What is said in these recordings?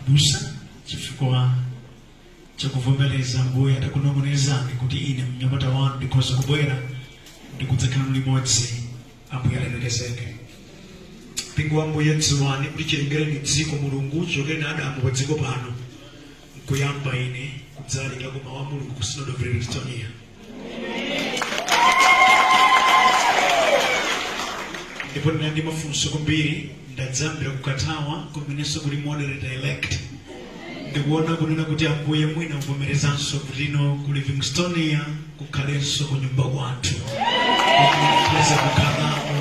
abusa chifukwa chakuvomereza ambuye atakunong'onezani kuti ine mnyamata wanu ndikhoza kubwera ndikudzakhala limodzi ambuye alemekezeke mpingo wa ambuye dziwani kuti chilengereni dziko mulungu chichokereni adamu pa dziko pano nkuyamba ine kudzalalikako mawu a mulungu ku synod of livingstonia ndipo ndinali ndi mafunso kwambiri ndadzayambira ku katawa kumenenso kuli moderator elect ndikuona kunena kuti ambuye mwina muvomerezanso kuti kuno ku livingstonia kukhalenso ku nyumba kwathu kupeza kukhalako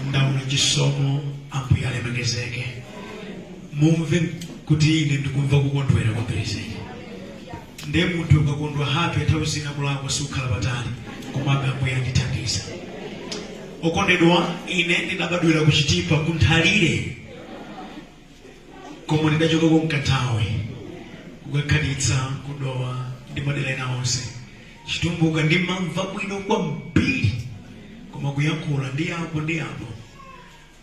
ndaona chisomo ambuye alemekezeke mumve kuti ine ndikumva kukondwera kwa pereseri ndiye munthu ukakondwa happy nthawi zina kulakwa sikukhala patali komabe ambuye andithandiza okondedwa ine ndinabadwira kuchitipa kunthalire koma ndidachokako kanthawi kukakhalitsa kudowa ndi madera ena onse chitumbuka ndimamva bwino kwambiri koma kuyankhula ndi apo ndi apo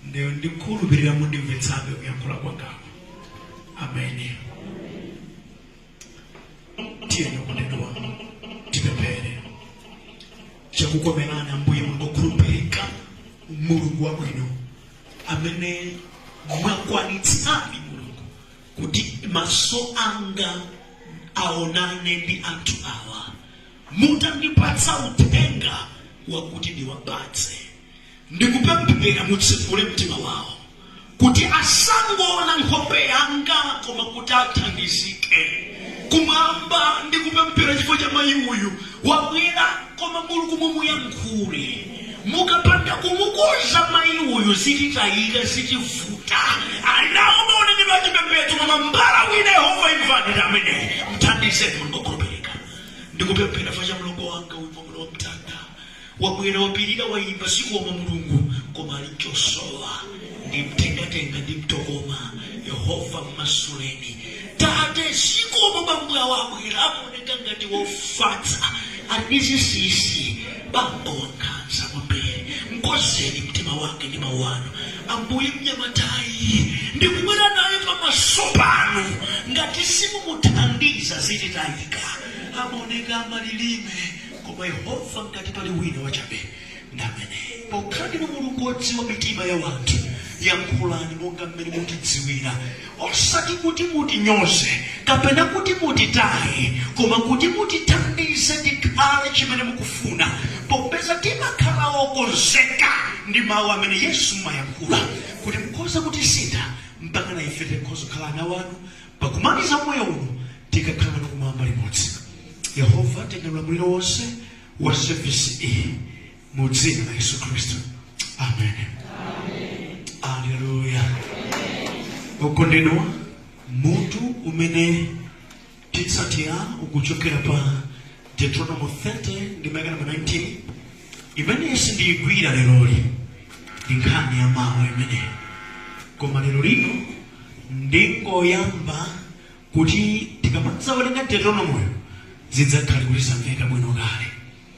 Ndiye ndikukhulupirira mundimvetsabe kuyankhula kwangako. Ameni. Tiyeni okondedwa tipemphere. Chakukomerani Ambuye Mulungu okhulupirika, Mulungu wabwino amene mwakwanitsadi Mulungu kuti maso anga aonane ndi anthu awa mutandipatsa uthenga wakuti ndiwapatse ndikupemphera mutsegule mtima wawo kuti asangoona nkhope yanga koma kuti athandizike kumwamba ndikupemphera chifukwa cha mayi uyu wabwera koma mulungu mumuyankhule mukapanda kumukonza mayi uyu zititayika zitivuta ali nawo maonekedwe achipembedzo koma mbala wina yehova imvani ndi ameneyo mthandizeni mulungu Ndikupemphera chifukwa cha mlongo wanga uyu mwamuna wa mtanda wabwera wapirira waimba zikomo mulungu koma ali nchosowa ndimtengatenga ndimtokoma yehova mmasuleni tate zikomo bambo awo abwera amaoneka ngati wofatsa ali ndi zinsinsi bambo wankhanza kwambiri mkonzeni mtima wake ndi mawu anu Ambuye, mnyamatayi ndikubwera naye pamaso panu, ngati simumuthandiza zititayika. Amaoneka amalilime, koma Yehova, ngati pali wina wachabe, ndi ameneyu. Pokhala ndinu Mulungu wodziwa mitima ya wanthu, yankhulani monga mmene mutidziwira. osati kuti mutinyoze kapena kuti mutitaye, koma kuti mutithandize tikhale chimene mukufuna, popeza timakhala okonzeka ndi mawu amene Yesu mumayankhula, kuti mukhoza kutisintha mpaka na ife tikhoza kukhala ana wanu pakumaliza moyo uno tikakhale kumwamba limodzi. Yehova, tenga ulamuliro wonse wa sevisi iyi mu dzina la yesu khristu amen aleluya okondedwa mutu umene titsatira ukuchokera pa deuteronomo 30 ndime yake namba 19 imene sindiyigwira lero lino ndi nkhani ya mawu imeneyi koma lero lino ndingoyamba kuti tikamadzawerenga deuteronomoyo zidzakhale kuti zamveka bwino kale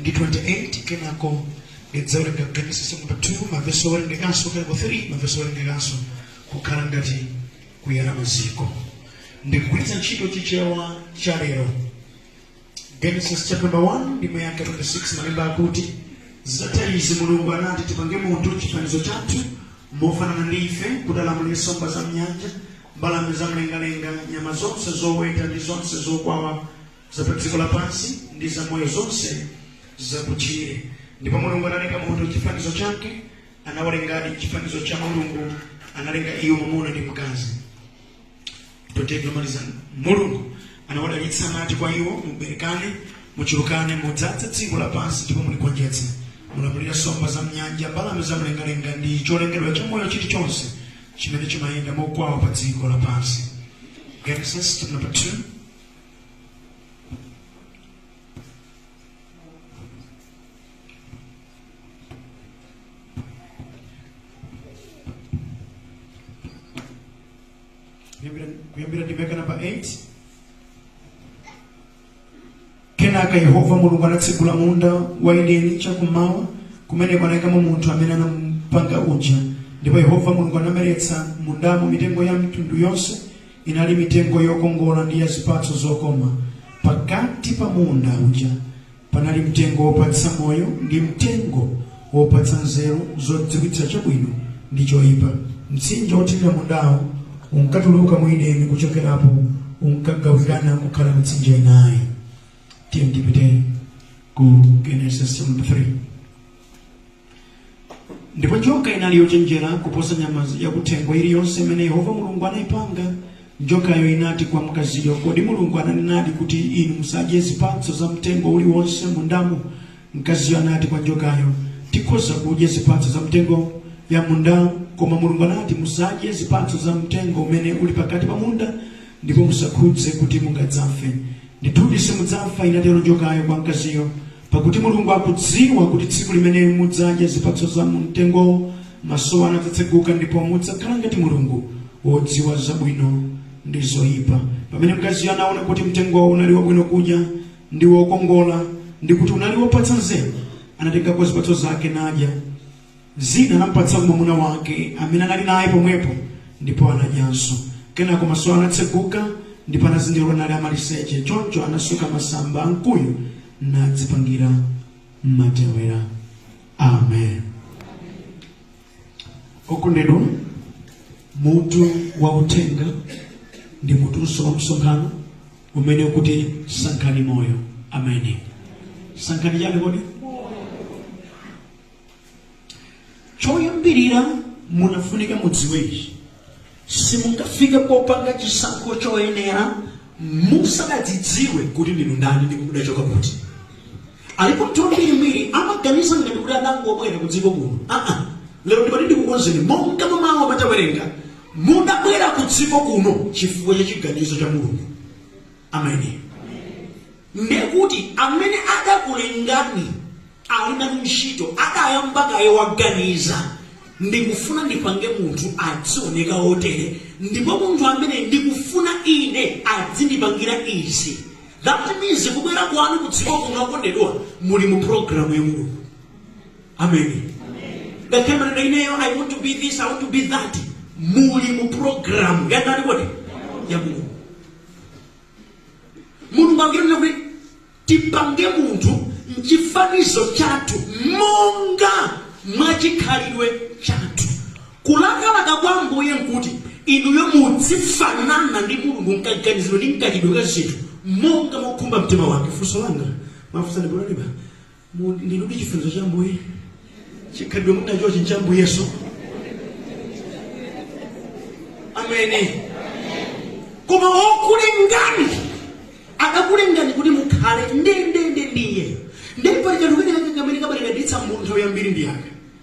ndi 28 kenako ndidzawerenga genesis chapter 2 mavesi owerengekanso kenako 3 mavesi owerengekanso kukhala ngati kuyala maziko ndikugwiritsa ntchito chichewa cha lero genesis chapter 1 ndime yake 26 malemba akuti zitatha izi mulungu anati tipange munthu m'chifanizo chathu mofanana ndi ife kuti alamulire nsomba za mnyanja mbalame za mlengalenga nyama zonse zoweta ndi zonse zokwawa za pa dziko lapansi ndi za moyo zonse zakutchire ndipo mulungu analenga munthu m'chifanizo chake anawalengadi m'chifanizo cha mulungu analenga iwo mwamuna ndi mkazi 28 yomaliza mulungu anawadalitsa anati kwa iwo muberekane muchulukane mudzadze dziko lapansi ndipo muligonjetse mulamulire nsomba za mnyanja mbalame za mlengalenga ndi cholengedwa cha moyo chilichonse chimene chimayenda mokwawa pa dziko lapansi genesis chapter number 2 kuyambira ndime yake namba 8 kenaka yehova mulungu anatsegula munda wa edeni chakummawa kumeneko anayikamo munthu amene anamupanga uja ndipo yehova mulungu anameretsa mundamo mitengo ya mitundu yonse Inali mitengo yokongola ndi ya zipatso zokoma. Pakati pa munda uja panali mtengo wopatsa moyo ndi mtengo wopatsa nzeru zodziwitsa chabwino ndi choipa. Mtsinje wothirira mundawo unkatuluka mu Edeni kuchokerapo, unkagawikana n'kukhala mitsinje inayi. Tipite ku Genesis chapter 3. ndipo njoka inali yochenjera kuposa nyama yakuthengo iliyonse imene yehova mulungu anayipanga njokayo inati kwa mkaziyo kodi mulungu ananenadi kuti inu musadye zipatso za mtengo uliwonse mundamo mkaziyo anati kwa njokayo tikhoza kudya zipatso za mitengo ya mundamo koma mulungu anati musadye zipatso za mtengo umene uli pakati pa munda ndipo musakhudze kuti mungadzafe ndithudi simudzafa inatero njokayo kwa mkaziyo Pakuti Mulungu akudziwa kuti tsiku limene mudzadya zipatso za mu mtengowo, maso anu adzatseguka ndipo mudzakhala ngati Mulungu, wodziwa zabwino ndi zoyipa. Pamene mkaziyo anaona kuti mtengowo unali wabwino kudya ndi wokongola ndi kuti unali wopatsa nzeru, anatengako zipatso zake nadya. zina anamupatsa mwamuna wake amene anali naye pomwepo ndipo anadyanso. Kenako maso awo anatseguka ndipo anazindikira kuti anali amaliseche. Choncho anasoka masamba a mkuyu nadzipangira matewera. Amen. Okondedwa, mutu wa uthenga ndi mutunso wa msonkhano umene ukuti sankhani moyo. Ameni. Sankhani chani kodi? choyambirira munafunika mudziwe ichi simungafike popanga chisankho choyenera musanadzidziwe kuti ndinu ndani ndipo mudachoka kuti alipo anthu ambirimbiri amaganiza ngati kuti adangobwera ku dziko kuno aa lero ndati ndikukonzeni monga mmawa titawerenga mudabwera ku dziko kuno chifukwa cha chiganizo cha mulungu amen Ndiye kuti amene adakulengani ali nanu ntchito adayamba kaye waganiza, Ndikufuna ndipange munthu adzioneka wotere, ndipo munthu ameneyu ndikufuna ine adzindipangira izi. That means kubwera kwanu kudziko kuno okondedwa muli mu programu ya Mulungu. Ameni. Ngakhale mumanena ineyo I want to be this, I want to be that. Muli mu programu ya ndani kodi? Ya Mulungu. mulungu akunena kuti tipange munthu mchifanizo chathu monga mwa chikhalidwe chathu kulakalaka kwa ambuye nkuti inuyo mudzifanana ndi mulungu mkaganizidwe ndi mkachitidwe ka zinthu monga mwakhumba mtima wake funso langa ndafunsa ndikulalika Mu- ndinudi chifanizo cha ambuye chikhalidwe muli nachochi ncha ambuye yesu amen koma okulengani adakulengani kuti mukhale ndendende ndi iye nde pali kanthu kena kake kamene kabalalitsa munthu nthawi yambiri ndi yake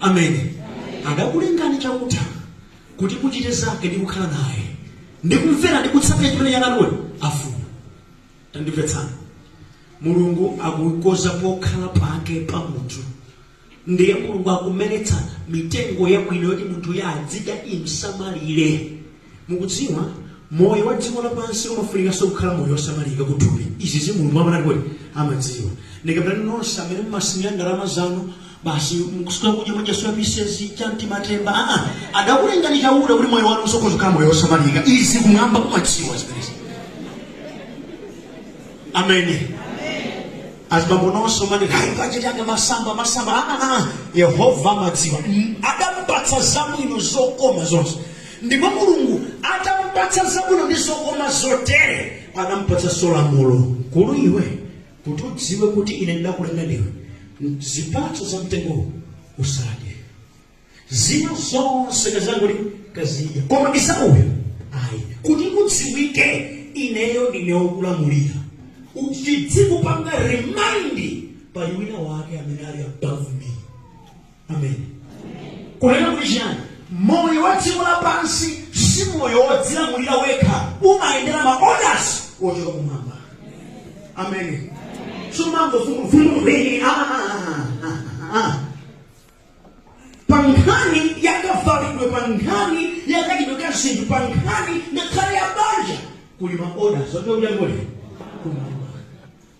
amene adakulengani chauta kuti muchite zake ndi kukhala naye ndi kumvera ndi kutsatira chimene chautayo afuna tandimvetsana mulungu akukonza pokhala pake pa munthu ndiye mulungu akumeretsa mitengo yabwino yoti munthuyo adzidya imsamalire Mukudziwa, moyo wa dziko lapansi umafunikanso kukhala moyo wosamalika ku thupi. Izizi Mulungu amatani kodi? Amadziwa. Ndikambiranu nonse amene mumasinya ndalama zanu, basi mukusuka kudya mwadya soya pisezi, chamti matemba. Aa, adakulengani Chauta kuti moyo wanu uzikhoza kukhala moyo wosamalika. Izi kumwamba kumadziwa zimenezi. Amen. Azibambo nonse mumati hayi bajeti yanga masamba masamba. Aa, Yehova amadziwa. Mm, Adampatsa zabwino zokoma zonse. Ndipo Mulungu atamupatsa zabwino ndi zokoma zotere, adamupatsanso lamulo, Mkulu iwe, kuti udziwe kuti ine ndidakulenga ndiwe, M- zipatso za mtengowo usadye, zina zonse kaziongola kazidya, koma iwo uyo ayi, kuti udziwike ineyo ndine wokulamulira, chidzikupanga remind pali wina wake amene ali above me. amen kunena kuti chiyani moyo wa dziko lapansi si moyo wodzilamulira wekha umayendera ma orders ochoka kumwamba amen sumango vumuvumuvini pa nkhani yakavalidwe pa nkhani yakachitidwe ka zinthu pa nkhani ngakhale ya banja kuli ma orders otokuyankhulira kumwamba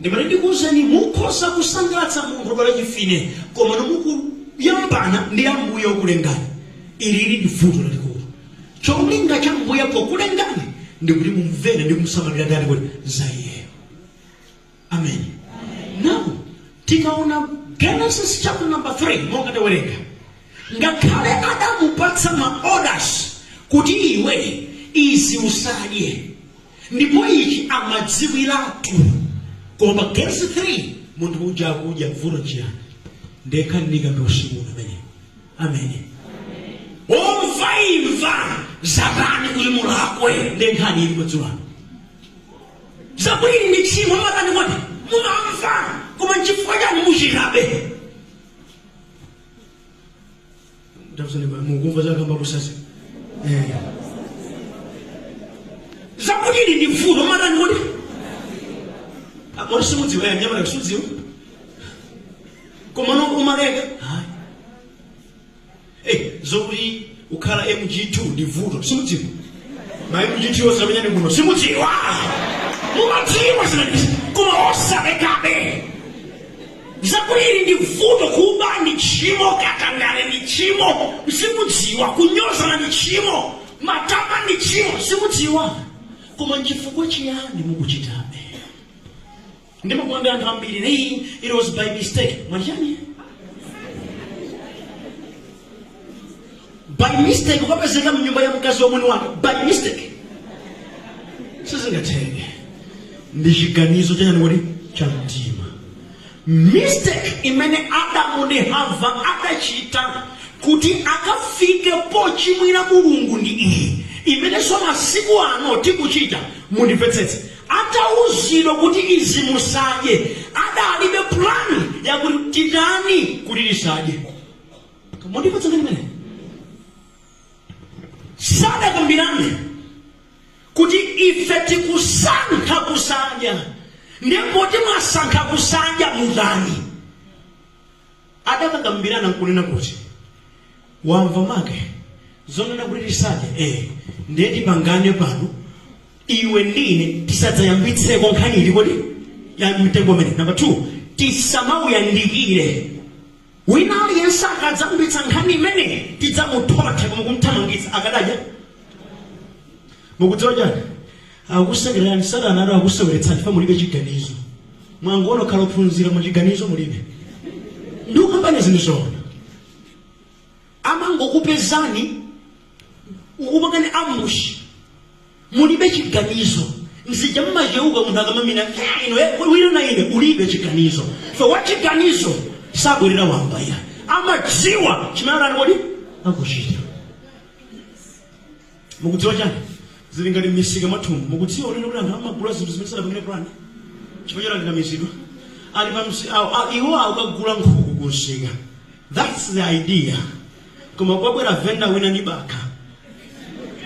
ndimati ndikuwuzeni mukhoza kusangalatsa munthu odwala chimfine koma no mukuyambana ndi ambuye okulengani ili ndi vuto lalikulu cholinga cha ambuye pokulengani ndikuti mumvere ndi kumsamala ndi kuti za iyeyo amen now tikaona genesis chapter number 3 monga tawerenga ngakhale adamupatsa ma orders kuti iwe izi usadye ndipo ichi amadziwiratu koma pa genesis 3 munthu uja akudya vuto chiyani ndiye khani ndikambe usiku uno imeneyi amen omvaimva zatani kuti mulakwe ndenkhani ili madzulano zakuti ndi tchimo matani kodi mumamva koma nchifukwa chani muchitabe Tafunsani ba- mukumva zakamba abusazi eh. zakuti ili ndi vuto matani kodi kodi simudziwa ya nyamala kusudziwa koma no umaleka ayi Eh, zokuti kukhala mg2 ndi vuto simudziwa ma mg2 osamenyani kuno simudziwa mumadziwa zimene koma osalekabe Zakuti ili ndi vuto, kuba ndi tchimo, katangale ndi tchimo, simudziwa, kunyozana ndi tchimo, matama ndi tchimo, simudziwa. Koma nchifukwa chiyani mukuchitabe? Ndimakamba anthu ambiri, hey, it was by mistake. Mwanjanji? by mistake ukapezeka mnyumba ya mkazi wa mwini wake by mistake sizingatheke ndi chiganizo chanji kodi cha mtima mistake imene adamu ndi hava adachita kuti akafike pochimwira mulungu ndi iyi imenenso masiku ano tikuchita mundimvetsetse atauzidwa kuti izi musadye adalibe pulani yakuti titani kuti tisadye mundimvetse nkhani imeneyi sadakambirane kuti ife tikusankha kusadya ndiye poti mwasankha kusadya mutani adakakambirana nkunena kuti wamva make zonena kuti tisadye eh ndiye tipangane pano iwe ndine tisadzayambitseko nkhani iri yonse ya mtengo umene namba 2 tisamawuyandikire Wina aliyense akadzayambitsa nkhani imeneyi tidzamuthotha komanso kumthamangitsa akadadya? Mukudziwa chani? Akukusekererani satana atu akukuseweretsani chifukwa mulibe chiganizo. Mwangokhala ophunzira koma chiganizo mulibe. Ndikukamba ine zinthu zoona. amangokupezani kukupangani ambush mulibe chiganizo ndi zija mmacheuka munthu akamamina wina na ine ulibe chiganizo so wachiganizo sabwerera wamba iyayi amadziwa chimene ali kodi akuchita Mukudziwa chani? Zili ngati mmisika mwathumu. Mukudziwa kunena kuti anthu amagula zinthu zimene sanapangire plan chifukwa chani ndi onamizidwa. Ali pa msi, awo, a, iwo akukagula nkhuku ku msika. That's the idea. Koma kwabwera venda wina ndi bakha.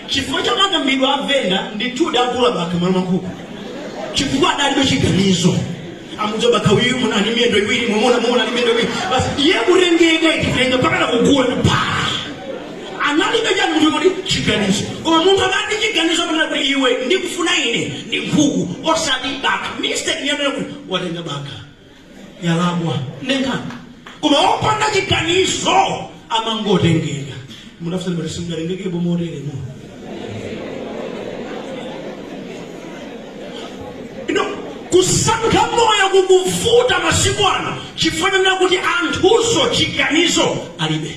Chifukwa cha makambidwe a venda ndithu wagula bakha malo mwa nkhuku. Chifukwa adalibe chiganizo. Amuuza bakha uyu mwaona ali miyendo iwiri, mwaona mwaona ali miyendo iwiri. Basi iye kutengeka itilenga mpakana kugula ndi pa. analibe chani munthu kodi chiganizo koma munthu akali ndi chiganizo amanena kuti iwe ndikufuna ine ndi nkhuku osati bakha mistake yonena kuti watenga bakha yalakwa nde nkhani koma opanda chiganizo amangotengeka mundiuza kuti simngatengekepo moteremo ino kusankha moyo kukuvuta masiku ano chifukwa chonena kuti anthuso chiganizo alibe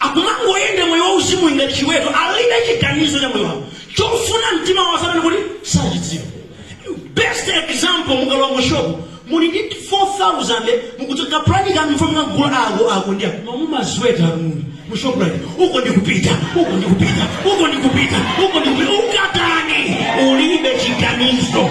akumangoyenda moyo wauzimu ngati chiweto alibe chiganizo cha moyo wawo chofuna mtima wawo satana kuti sachidziwa best example mukalowa mu shop muli ndi 4000 mukuchoka plani kuti mufuna mukagula ako ako ndi ako mamumazweta muli mu shop like uko ndikupita uko ndikupita uko ndikupita uko ndikupita ukatani ulibe chiganizo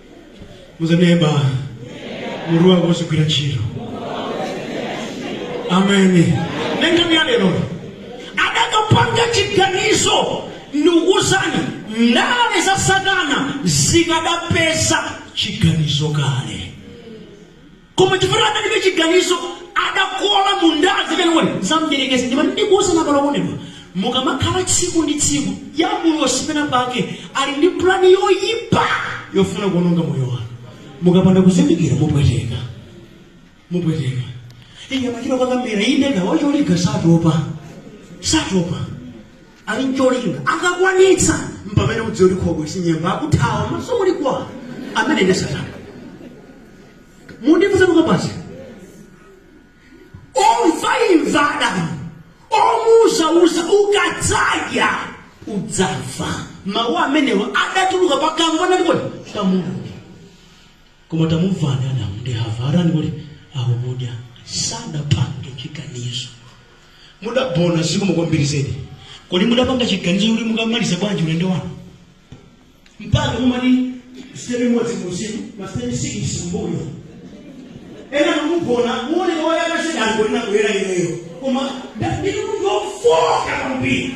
muzaneba muru wako uzigwira ntchito ameni nenkhani ya lero adakapanda chiganizo ndikuuzani ndale za satana zikadapeza chiganizo kale Koma chifukwa adalibe chiganizo adakodwa mundale kwenikweni za mdierekezi. Ndimati ndikuuzani abale okondedwa, mukamakhala tsiku ndi tsiku, dyabulosi pena pake ali ndi pulani yoyipa yofuna kuononga moyo wanu. Mukapanda kuzindikira mupweteka. Mupweteka. Iye amachita kukakamira, inde ndi wacholinga satopa. Satopa. ali ncholinga akakwanitsa mpamene udziwa kuti khobwe sinyemba akuthawa maso muli kwa amene ndi satana mundifunsa tukabasi omvaimva adamu omuuzauza ukadzadya udzafa mawu amenewa adatuluka pakamwa nalikoni pa mulungu koma tamvani adamu ndi hava atani kuti akudya sadapange chiganizo Mudabwera zikomo kwambiri zedi. Kodi mudapanga chiganizo choti mukamaliza bwanji ulendo wanu? Mpaka mumati sitepe imodzi kutsogolo, masitepe sikisi kumbuyo. Ena mukugona muoneka oyaka zedi anthu ena kuyera ineyo. Koma ndili munthu wofoka kwambiri.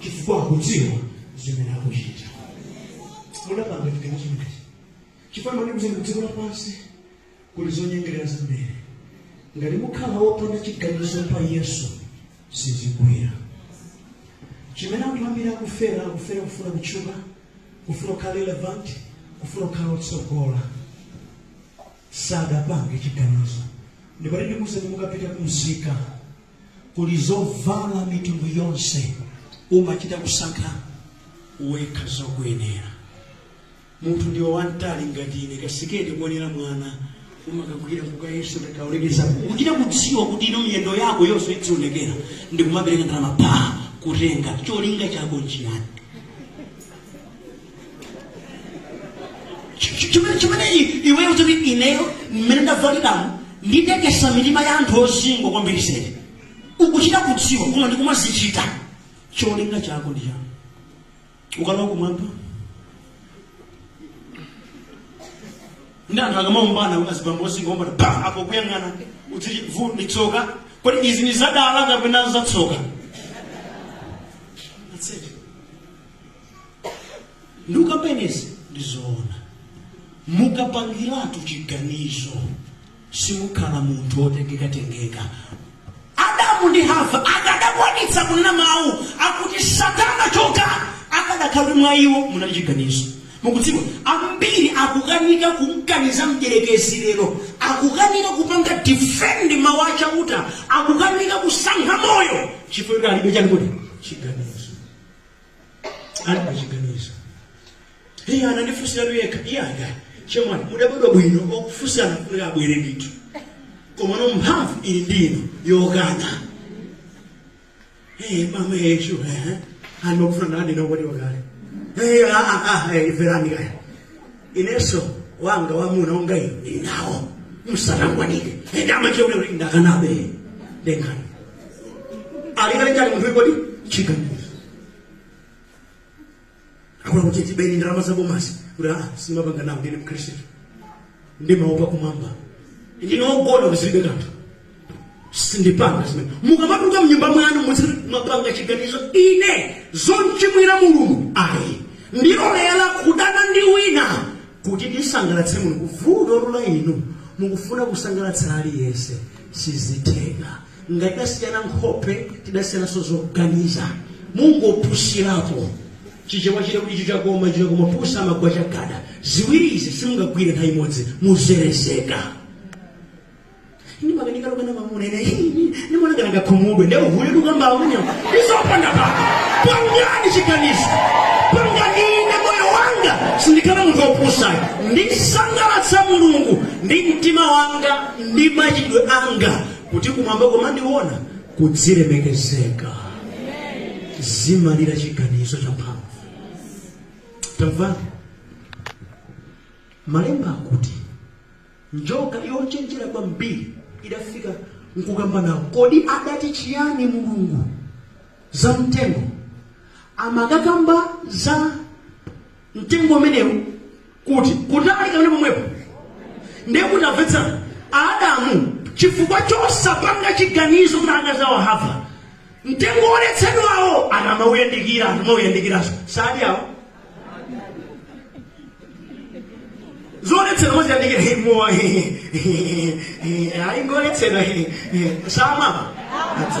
chifukwa akudziwa zimene akuchita mudapanga chiganizo chimenechi chifukwa ndikuti mdziko lapansi kuli zonyengerera zambiri ngati mukhala wopanda chiganizo pa yesu sizigwira chimene anthu ambiri akufera akufera kufuna kutchuka kufuna kukhala relevant kufuna kukhala otsogola sadapange chiganizo ndipo ndikuuzani mukapita kumsika Kuli zovala mitundu yonse. Umachita kusankha wekha zokuyenera. Munthu ndiwe wamtali ngati ine, kasiketi kuonera mwana umangokagwira nkukayesa utakaonekezapo. Ukuchita kudziwa kuti ino miyendo yako yonse idzionekera ndikumapereka ndalama pa kutenga. Cholinga chako nchiyani? chimene iweyo kuti ineyo mmene ndavaliramu nditekesa mitima ya anthu ozingwa kwambiri sene ukuchita kudziwa koma ndikumazichita cholinga chako ndi chani ukalowa kumwamba ndi anthu akamaombana kuti azibambo ozingwa ombana pa apo kuyang'ana udziti vu ndi tsoka kodi izi ndi zadala kapena zatsoka ndikukamba inezi ndizoona mukapangiratu chiganizo simukhala munthu wotengeka tengeka adamu ndi hava akadakwanitsa kunena mawu akuti satana choka akadakhala kuti mwa iwo munali chiganizo mukudziwa ambiri akukanika kumkaniza mdyerekezi lero akukanika kupanga defend mawu a chauta akukanika kusankha moyo chifukwa kuti alibe chani kodi chiganizo alibe chiganizo iye anandifunsira tu yekha iye andani chemwali mudabadwa bwino okufunsana kuti abwere ndithu komano mphamvu ili ndi inu yokana Eh, mama yeshu eh hano kufuna nani na wali wakale eh ah ah ah eh mverani kaya inenso wanga wamuna wanga ninawo msana ngwanike ndama chokero ndakanabe ndengana alingane chani munthuyu kodi chiganizo akunena kuti tibeni ndalama za bomazi kuti a sindimapanga nawo ndine mkhristu ndimaopa kumwamba ndinogona kuzilibe kanthu sindipanga zimene mukamatuluka mnyumba mwanu muzi mwapanga chiganizo ine zonchimwira mulungu ayi ndilolera kudana ndi wina kuti ndisangalatse mulungu vuto lula inu mukufuna kusangalatsa aliyense sizitheka ngati tidasiyana nkhope tidasiyananso zoganiza mungopusirapo chichewa chili kuti icho chakoma icho chakoma pusi amagwa chagada ziwiri izi simungagwire nthawi imodzi muzerezeka ine ndimakanika kukana mamuna ine ndimaona kana angakhumudwe nde uhule tikukamba umenewo ndi zopanda pake pangani chiganizo pangani ine moyo wanga sindikhala munthu opusayo ndisangalatsa mulungu ndi mtima wanga ndi machitidwe anga kuti kumwamba kukamandiona kudzilemekezeka zimalira chiganizo cha mphamvu tamvani malemba akuti njoka yochenjera kwambiri idafika nkukamba nawo kodi adati chiyani mulungu za mtengo amakakamba za mtengo umenewu kuti kutali kapena pomwepo ndiye kuti amvetsana adamu chifukwa chosapanga chiganizo kuti akazi awo a Hava mtengo woletsedwawo atamawuyandikira akamawuyandikiranso sadi awo zoletsedwa moziyandikira he, mowa he, he, he, ayi ngoletsedwa he, he, samwa Adza.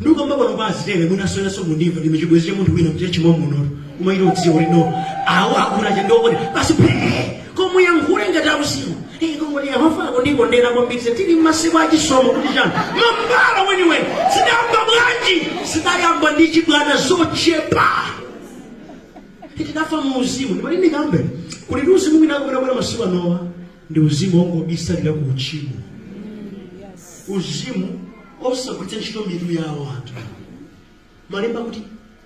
Ndukamba pano pa azitele mwinanso inunso mundimva ndi chibwezi cha munthu wina kuti chimwa munono koma ino udziwa kuti awo akuna cha ndokone basi phee koma kuyankhula ngati akusiwa eh komwe ndi Yehova akundikondera kwambiri tili m'masiku a chisomo kuti chani mambala weniweni zidayamba bwanji zidayamba ndi chibwana zochepa tidafa mu uzimu ndipati ndikambe kuti ndi uzimu wina kumene kwena masiku anowa ndi uzimu wongobisalira ku uchimo uzimu osagwiritsa ntchito mitu yawo anthu malemba akuti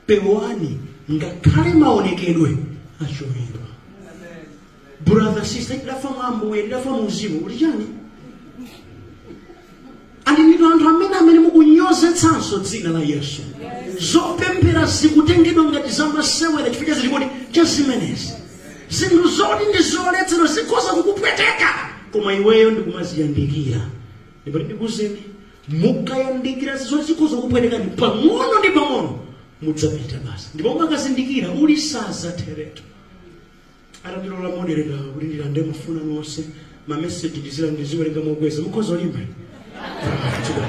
pewani ngakhale maonekedwe achoyera brother sister tidafa mwa Ambuye tidafa muuzimu uli chani ndinutu anthu amene amene mukunyozetsanso dzina la yesu zopemphera zikutengedwa ngati zamasewera chifukwa cha zili kuti cha zimenezi zinthu zoti ndi zoletsedwa zikhoza kukupweteka koma iweyo ndikumaziyandikira ndipati ndikuuzeni mukayandikira zoti zikhoza kukupwetekani pang'ono ndi pang'ono mudzapita basi ndipo mukazindikira uli sazatheretu Atandilola a moderator kuti ndilande mafoni anu onse, ma message ndizi- ndiziwerenga mokweza. Mukhoza kulimba? Ah, chida.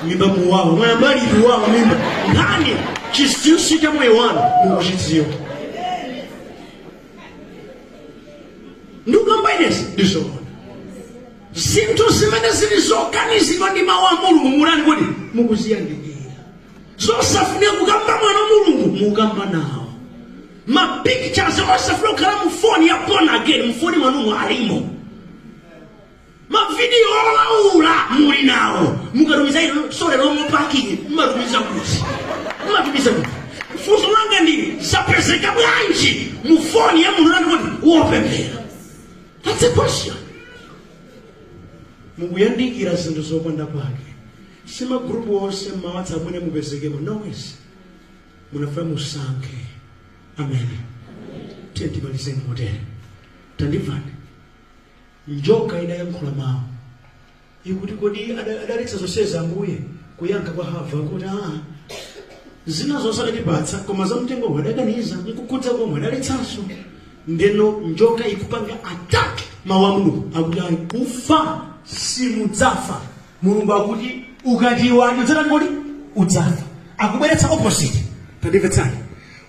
Mimba muwawa. Mwayamba liti kuwawa mimba? Nkhani chinsinsi cha moyo wanu mukuchidziwa. Ndikukambazi ine ndizoona. Zinthu zimene zili zokanizidwa ndi mawu a Mulungu m'malankhula kuti mukuziyandikira. zosafunika kukamba mwana wa mulungu mukamba nawo mapictures osafunika kukhala mu foni ya born again mufoni mwanumo alimo mavidiyo olaula muli nawo mukatumiza muno solely mu parking mumatumiza kuti mumatumiza kuti funso langa ndi ili zapezeka bwanji mu foni ya munthu nandikuti wopemphera that's a question mukuyandikira zinthu zopanda pake Si ma group onse mma whatsapp amene mupezekemo. No ways. Mumafuna musankhe. Amen. Tiyeni timalize motere. Tandimvani. Njoka idayankhula mawu. Ikuti kodi ada- adaletsa zonsezi Ambuye kuyankha kwa Hava kuti aa zina zonse adatipatsa koma za mtengowu adakaniza nkukhudza komwe adaletsanso ndeno njoka ikupanga attack mawu a Mulungu akuti ayi kufa simudzafa mulungu akuti ukati iwe ati udzatani kodi udzafa akubweretsa opposite tandimvetsani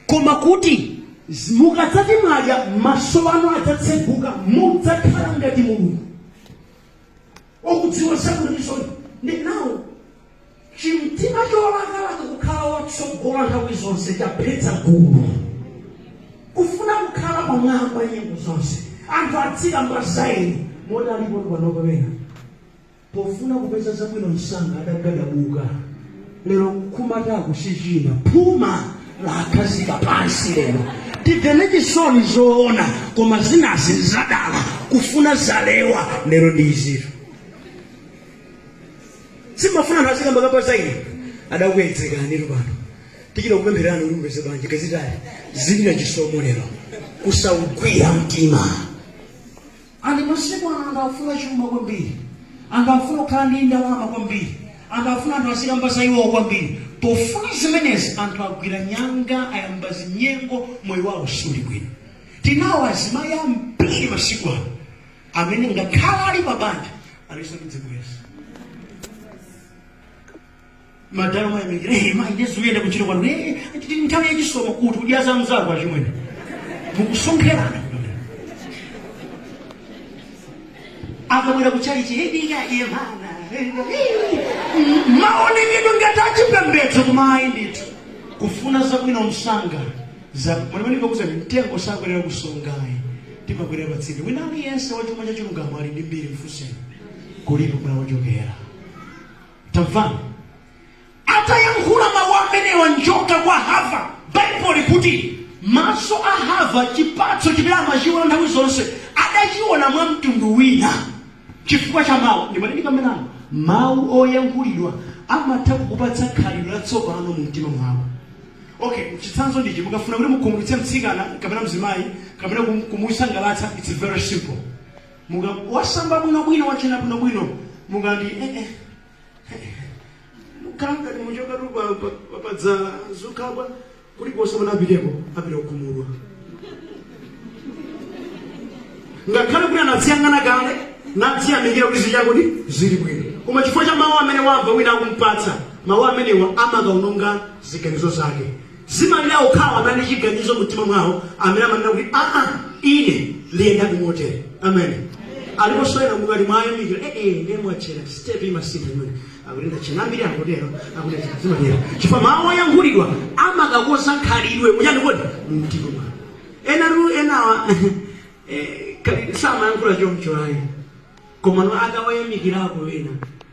koma kuti z- mukadzati mwadya maso anu adzatseguka mudzakhala ngati mulungu okudziwa sakunisoni ndi nawo chimtima cholakalaka kukhala wotsogola nthawi zonse chaphetsa gulu kufuna kukhala pamwamba nyengo zonse anthu azikamba za ine moti alipo panopa ena pofuna kupeza zabwino msanga adagadabuka lero nkumata akuchichina phuma lakhazika pansi lero timvere chisoni zoona koma zinazi zadala kufuna zalewa lero ndi izitu simafuna anthu azikamba kamba za ine adakuyedzekanitu pano tichita kupempherani kuti mupeze banja kazitali zilira chisomo lero kusaugwira mtima And masiku ano anthu akufuna chuma kwambiri anthu akufuna kukhala ndi ndalama kwambiri anthu akufuna anthu azikamba za iwowo kwambiri pofuna zimenezi anthu agwira nyanga ayamba zinyengo moyo wawo suli bwino tinawo azimayi ambiri masiku ano amene ngakhale ali pabanja alinso ndi zibwenzi madala umayamikira hey, mayi nde zikuyenda kuntchito kwanu hey, tili nthawi yachisomo kuti udya za mzako achimwene mukusonkherana akabwera kuchalichi eh tikayang'ana maonekedwe ngati achipembedzo koma ayi ndithu kufuna zabwino msanga mwenemenikakuza mtengo sakwerera kunsonga ayi timakwerera patsinde wina aliyense wachuma cha chilungamo ali ndi mbiri mfuseni kulipo kumene wachokera Tamvani. Atayankhula mawu amenewa njoka kwa Hava, Baibulo likuti maso a Hava, chipatso chimene amachiona nthawi zonse, adachiona mwa mtundu wina chifukwa cha mawu. Ndimati ndikambe nanu mawu oyankhulidwa amatha kukupatsa khalidwe latsopano mu mtima mwako. Okay, chitsanzo ndichi mukafuna kuti mukhumudwitse mtsikana kapena mzimayi kapena kum- kumusangalatsa, it's very simple. Munga wasamba bwino bwino wachena bwino bwino mukati eh eh kanga ni muchokatu pa pa- pa padzala zokabwa kulikonse mwana apiteko apita okhumudwa ngakhale kuti anadziyang'ana kale nadziyamikira kuti zichakuti zili bwino koma chifukwa cha mawu amene wamva wina akumpatsa mawu amenewa amakaononga ziganizo zake Zimalira okhawo amene ali ndi chiganizo mu mtima mwawo amene amanena kuti, Aa, ine ndiyendadi motere. Ameni. Aliponso ena mukati mwayamikira, eh, eh, ndiye mwatchera, step imasintha imene. Akuti ndatchera, ambiri angotero, akuti ndatchera, zimatero. Chifukwa mawu oyankhulidwa amakakonza khalidwe, mu chani kodi? Mu mtima mwanu. Enatu enawa, eh, kali- samayankhula chomcho ayi. Komano akawayamikirako ena,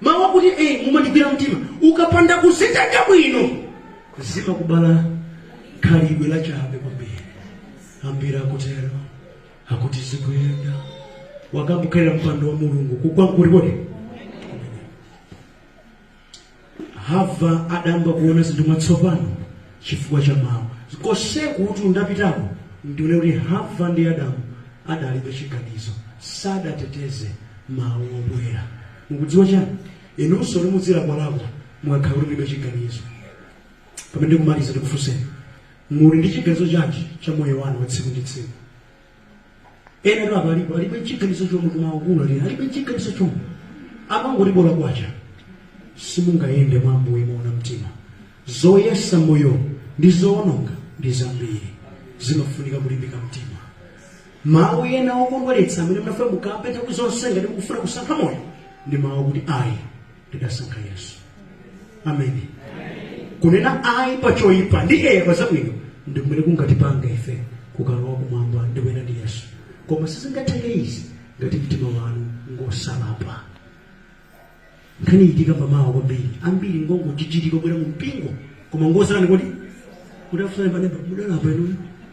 Mawu akuti ee mumandigwira mtima ukapanda kuzitenga bwino zimakubala khalidwe la chabe kwambiri ambiri akutero akuti zikuyenda wakambu khalira mpando wa mulungu kugwa nkuti Hava adayamba kuona zinthu mwatsopano chifukwa cha mawu. Konseku kuti ndapitako ndi one kuti Hava ndi Adamu adalibe chiganizo, sadateteze mawu obwera. Mukudziwa chiyani? Inunso kuti mudzilakwalakwa mukakhala kuti mulibe chiganizo. Pamene ndikumaliza, ndikufunseni, muli ndi chiganizo chanji cha moyo wanu wa tsiku ndi tsiku? enatu apa alipo alibe chiganizo chomwe koma akuluakulu alibe chiganizo chomwe amangoti bola kwacha simungayende mwa ambuye moona mtima zoyesa moyo ndi zoononga ndi zambiri zimafunika kulimbika mtima mawu ena okondweretsa amene munafuna mukambe nthawi zonse ngati mukufuna kusankha moyo ndi mawu akuti ayi ndidasankha yesu ameni kunena ayi pa choyipa ndi eya pa zabwino ndi kumene kungatipanga ife kukalowa kumwamba ndi kuyenda ndi yesu koma sizingatheke izi ngati mtima wanu ngosalapa nkhani ithika mmawa kwambiri ambiri ngongochitika kubwera mu mpingo koma ngosalapa kodi ndikufunseni panopa mudalapa inuyo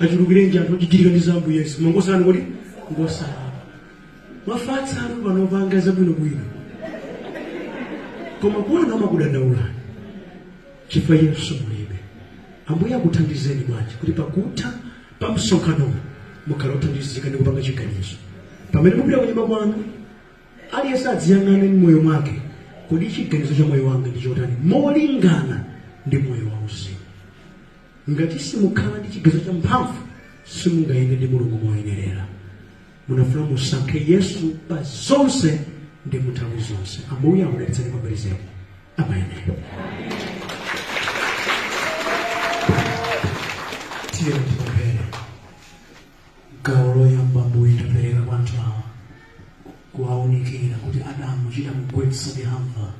achulukirenji anthu ochitirika ndi za ambuye yesu koma ngosalapa kodi ngosalapa mwafatsa anthu pano panga zabwinobwino koma kuona amakudandaulani chifukwa yesu mulibe ambuye akuthandizeni bwanji kuti pakutha pa msonkhano mukhale othandizika ndi kupanga chiganizo pamene mupita kunyumba kwanu aliyense adziyang'ane mmoyo mwake kodi chiganizo cha moyo wanga ndi chotani molingana ndi moyo wauzimu Ngati simukhala ndi chiganizo cha mphamvu, simungayende ndi Mulungu moyenerera. Munafuna musankhe Yesu pa zonse ndi mu nthawi zonse. Ambuye akudalitseni kwambiri zedi. Ameni. Tiyeni tipemphere. Gawo loyamba Ambuye tapereka kwa anthu awa kuwaunikira kuti Adamu chidamugwetsa ndi Hava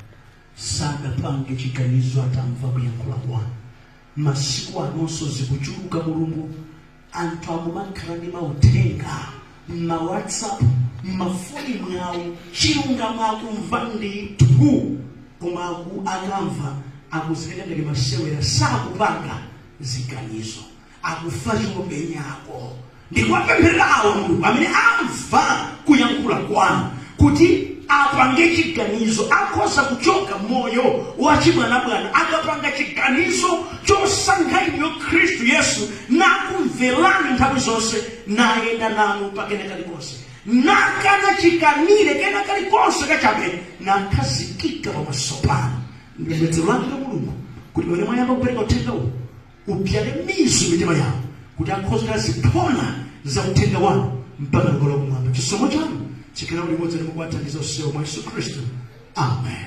sadapange chiganizo atamva kuyankhula kwanu Masiku anonso zikuchuluka mulungu anthu akumakhala ndi mauthenga mma whatsapp mmafoni mwawo chilungamo akumva ndithu koma akamva akuzitenga ngati masewera sakupanga ziganizo akufa chopenyako ndi kuwapempherera awo Mulungu amene amva kuyankhula kwanu kuti apange chiganizo akhoza kuchoka moyo wa chibwanabwana akapanga chiganizo chosankha inu khristu yesu nakumverani nthawi zonse nayenda nanu pakena kalikonse nakana chikanire kena kalikonse kachabe nakhazikika pamaso panu ndi pembedzero langa mulungu kuti pamene mwayamba kupereka uthenga uwu ubzale mizu m'mitima yawo, kuti akhoze kukhala ziphona za Uthenga Wanu mpaka kukalowa Kumwamba. Chisomo Chanu chikhale limodzi ndi inu kuwathandiza onsewo mwa Yesu Khristu. Amen.